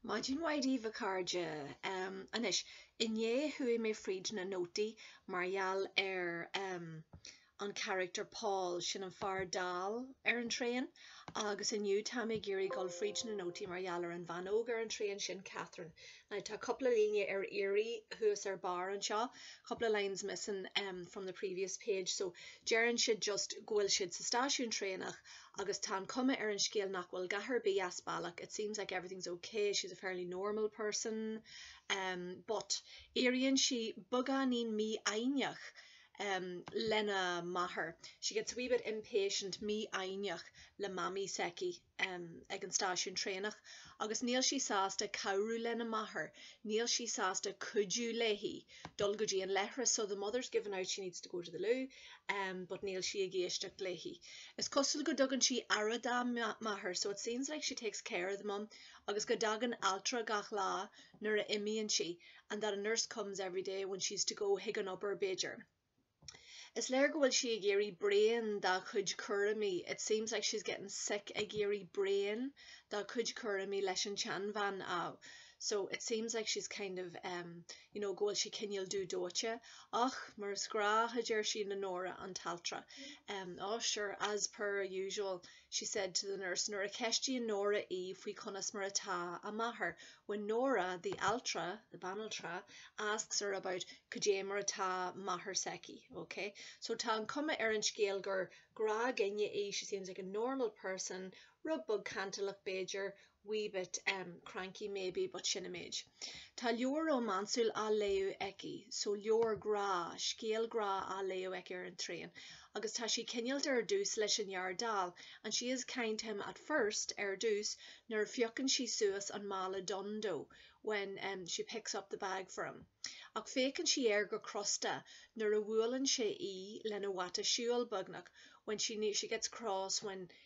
Maidin mhaith daoibh a chairde. Anois, inné chuaigh mé fríd na nótaí mar gheall ar an charachtar Paul, sin an fear dall ar an traein, agus inniu táim ag iarraidh dul fríd na nótaí mar gheall ar an bhean óg ar an traein, sin Catherine. Now tá cúpla líne ar iarraidh thuas ar barr anseo, couple of lines missing from the previous page, so deireann siad just go bhfuil siad sa stáisiún traenach agus tá an cuma ar an scéal nach bhfuil a dhath ar bith as bealach it seems like everything's ok, she's a fairly normal person um but éiríonn sí beagáinín mífhoighneach um lena máthair she gets a wee bit impatient mífhoighneach le mamaí s'aici um ag an stáisiún traenach agus níl sí sásta cabhrú lena máthair, níl sí sásta cuidiú léi. dul go dtí an leithreas so the mother's given out she needs to go to the loo um but níl sí ag éisteacht léi is cosúil go dtugann sí aire dá máthair so it seems like she takes care of the mum agus go dtagann altra gach lá nuair a imíonn sí and that a nurse comes every day when she's to go chuig an obair b'fhéidir Is léir go bhfuil sí ag éirí bréan dá cuid cúraimí It seems like she's getting sick ag éirí bréan dá cuid cúraimí leis an tseanbhean a so it seems like she's kind of em you know go bhfuil sí cineál dú dóite ach mar is gnách a deir sí le Nóra an t-altra em oh sure as per usual she said to the nurse Nuair a ceistíonn Nóra í faoi conas mar atá a máthair When Nóra, the altra, the banaltra, asks her about cad é mar atá máthair s'aici, ok? So tá an cuma ar an scéal gur gnáthdhuine í, she seems like a normal person, rud beag cantalach b'fhéidir, wee bit, em, cranky maybe but sin an méid. Tá leabhar rómánsúil á léamh aici, so leabhar grá, scéal grá á léamh aici ar an traein agus tá sí cineálta ar dtús leis an fhear dall and she is kind to him at first ar dtús nuair a phiocann sí suas an mála donn dó when, em, she picks up the bag for him ach féachann sí air go crosta nuair a bhuaileann sé í lena bhata siúil beagnach when she, she gets cross when,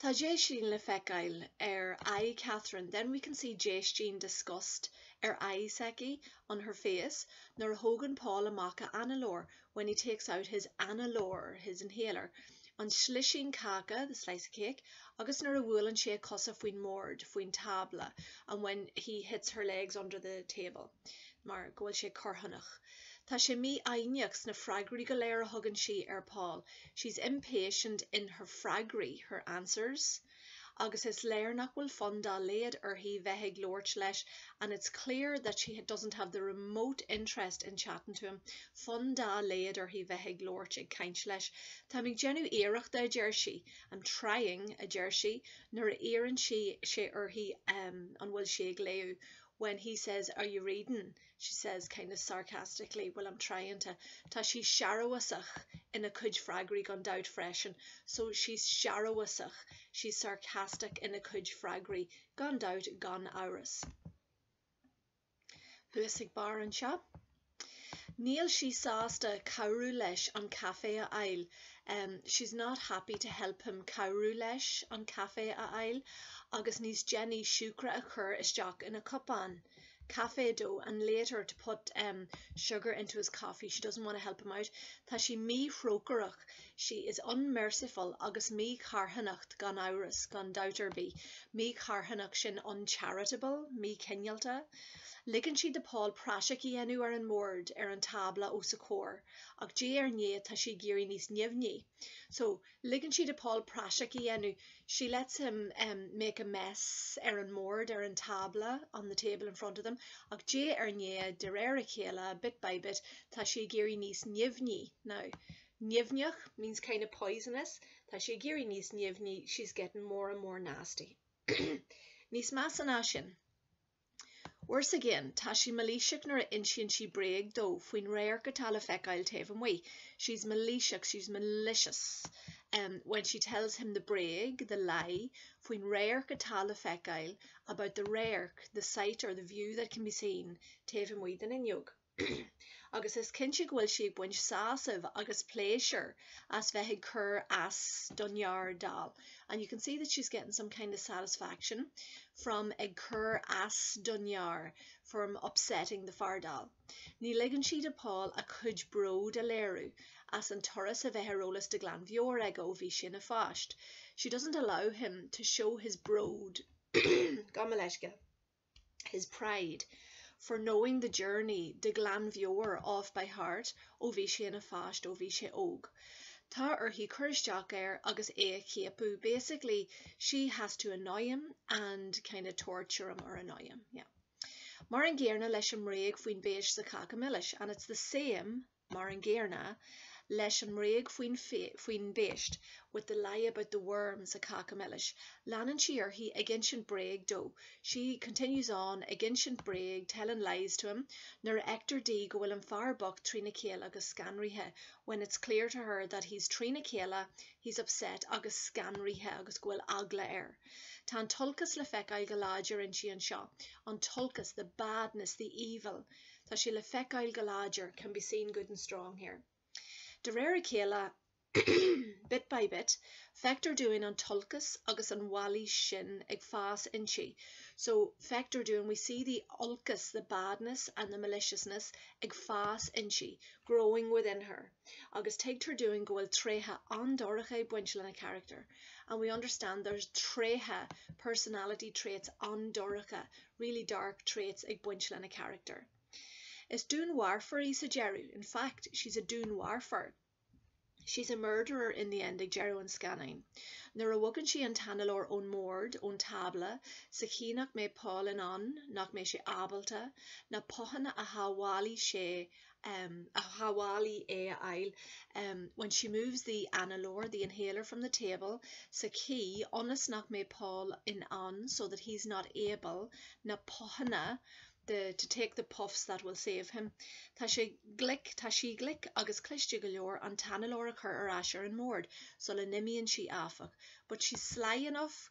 Tá déistín le feiceáil ar aghaidh Catherine, then we can see déistín, disgust, ar aghaidh s'aici, on her face, nuair a thógann Paul amach a análóir, when he takes out his análóir, his inhaler, an slisín cáca, the slice of cake, agus nuair a bhuaileann sé a cosa faoin mbord, faoin tábla, and when he hits her legs under the table, mar go bhfuil sé corrthónach. Tá sí mífhoighneach sna freagraí go léir a thugann sí ar Paul. She's impatient in her freagraí, her answers, agus is léir nach bhfuil fonn dá laghad uirthi bheith ag labhairt leis, and it's clear that she doesn't have the remote interest in chatting to him. fonn dá laghad uirthi bheith ag labhairt, ag caint, leis. Táim ag déanamh iarrachta, a deir sí. I'm trying, a deir sí, nuair a iarrann sí, sé uirthi an bhfuil sí ag léamh, when he says are you reading? she says kind of sarcastically well I'm trying to Tá sí searbhasach ina cuid freagraí gan dabht freisin so she's searbhasach she's sarcastic ina cuid freagraí gan dabht gan amhras thuas ag barr anseo. Níl sí sásta cabhrú leis an caife a fháil um she's not happy to help him cabhrú leis an caife a fháil agus níos déanaí siúcra a chur isteach ina cupán caife dó and later to put em sugar into his coffee she doesn't want to help him out tá sí míthrócaireach she is unmerciful agus mícharthanach gan amhras gan dabht ar bith mícharthanach sin uncharitable míchineálta ligeann sí do Paul praiseach a dhéanamh ar an mbord ar an tábla os a comhair ach diaidh ar ndiaidh tá sí ag éirí níos nimhní so Ligeann sí do Paul praiseach a dhéanamh, she lets him make a mess, ar an mbord, ar an tábla, on the table in front of them. Ach diaidh ar ndiaidh, de réir a chéile, bit by bit, tá sí ag éirí níos nimhní, now, nimhneach means kind of poisonous, tá sí ag éirí níos nimhní, she's getting more and more nasty. Níos measa ná sin. Worse again, tá sí mailíseach nuair a insíonn sí bréag dó faoin radharc atá le feiceáil taobh amuigh, she's mailíseach, she's malicious, when she tells him the bréag, the lie, faoin radharc atá le feiceáil, about the radharc, the sight or the view that can be seen, taobh amuigh den fhuinneog. agus is cinnte go bhfuil sí ag baint sásaimh agus pléisiúr as bheith ag cur as don fhear dall and you can see that she's getting some kind of satisfaction from ag cur as don fhear from upsetting the fear dall. Ní ligeann sí do Paul a chuid bród a léiriú as an turas a bheith ar eolas de ghlanmheabhair aige ó bhí sé ina pháiste, she doesn't allow him to show his bród, gabh mo leithscéal. his pride, for knowing the journey de ghlanmheabhair off by heart ó bhí sé ina pháiste, ó bhí sé óg. Tá uirthi cur isteach air agus é a chiapadh, basically she has to annoy him and kind of torture him or annoy him, yeah. Mar an gcéarna leis an mbréag faoin bpéist sa cháca milis, and it's the same, mar an gcéarna leis an mbréag faoin faoin bpéist with the lie about the worms sa cáca milis leanann sí uirthi ag insint bréag dó she continues on ag insint bréag telling lies to him nuair a fheictear di go bhfuil an fear bocht trína chéile agus scanraithe when it's clear to her that he's trína chéile he's upset agus scanraithe agus go bhfuil eagla air Tá an t-olcas le feiceáil go láidir inti anseo an t-olcas the badness, the evil. Tá sé le feiceáil go láidir, can be seen good and strong here. De réir a chéile, bit by bit, feictear dúinn an t-olcas agus an mhailís sin ag fás inti, so, feictear dúinn, we see the olcas, the badness and the maliciousness, ag fás inti, growing within her. agus tuigtear dúinn go bhfuil tréithe an-dorcha ag baint lena character and we understand there's tréithe personality traits an-dorcha really dark traits ag baint lena character. Is dúnmharfóir í sa deireadh in fact, she's a dúnmharfóir she's a murderer in the end ag deireadh an scannáin nuair a bhogann sí an t-análóir ón mbord, ón tábla, sa chaoi nach mbeidh Paul in ann, nach mbeidh sé ábalta, na puthanna a shábhálfaidh sé um a shábhálfaidh é a fháil um when she moves the análóir the inhaler from the table sa chaoi ionas nach mbeidh Paul in ann so that he's not able na puthanna the to take the puffs that will save him tá sé glic tá sí glic agus cliste go leor an t-análóir a chur ar ais ar an mbord sula n-imíonn sí, áfach, but she's sly enough.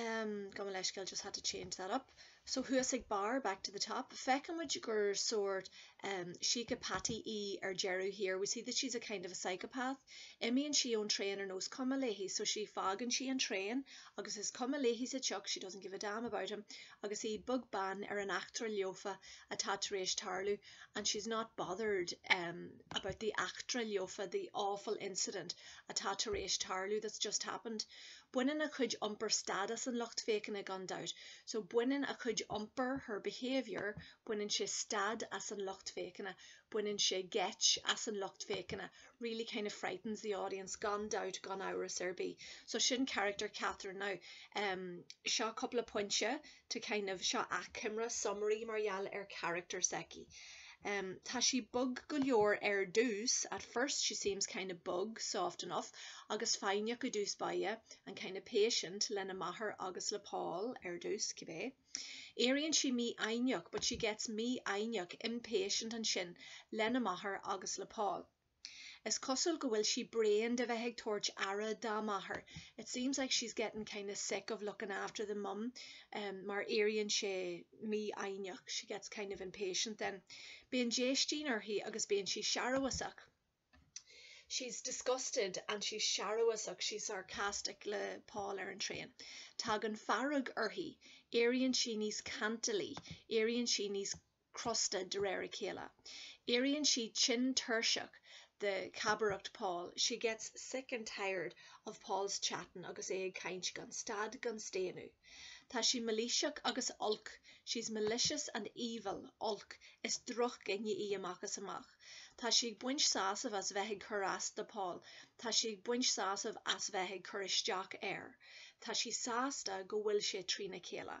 em gabh mo leithscéal just had to change that up so thuas ag barr back to the top feicimid gur sórt em síceapataí í ar deireadh thiar we see that she's a kind of a psychopath imíonn sí ón traein ar nós cuma léi so she fágann sí an traein agus is cuma léi sa tsioc she doesn't give a damn about him agus í beag beann ar an eachtra lofa atá tar éis tarlú and she's not bothered em about the eachtra lofa, the awful incident atá tar éis tarlú, that's just happened. Baineann a cuid iompair stad as an lucht féachana gan dabht, so baineann a cuid iompair, her behaviour baineann sé stad as an lucht féachana, baineann sé geit as an lucht féachana, really kind of frightens the audience gan dabht, gan amhras ar bith. So sin carachtar Catherine now. Seo cúpla pointe. to kind of seo achoimre summary mar gheall ar character s'aici. Um, tá sí bog go leor ar dtús, at first she seems kind of bog, soft enough, agus foighneach i dtús baile, and kind of patient, lena máthair agus le Paul, ar dtús, cibé. Éiríonn sí mífhoighneach, but she gets mífhoighneach, impatient, ansin, lena máthair agus le Paul. Is cosúil go bhfuil sí bréan de bheith ag tabhairt aire dá máthair, it seems like she's getting kind of sick of looking after the mum mar éiríonn sí mífhoighneach, she gets kind of impatient then. Bíonn déistín uirthi agus bíonn sí searbhasach, she's disgusted and she's searbhasach, she's sarcastic le Paul ar an traein. Tagann fearg uirthi, éiríonn sí níos cantalaí, éiríonn sí níos. crosta de réir a chéile. Éiríonn sí tinn tuirseach de chabaireacht Paul, she gets sick and tired of Paul's chatting, agus é ag caint gan stad gan staonadh. Tá sí mailíseach agus olc, she's malicious and evil. Olc. Is drochdhuine í amach is amach. Tá sí ag baint sásaimh as bheith ag cur as do Paul. Tá sí ag baint sásaimh as bheith ag cur isteach air. Tá sí sásta go bhfuil sé trína chéile.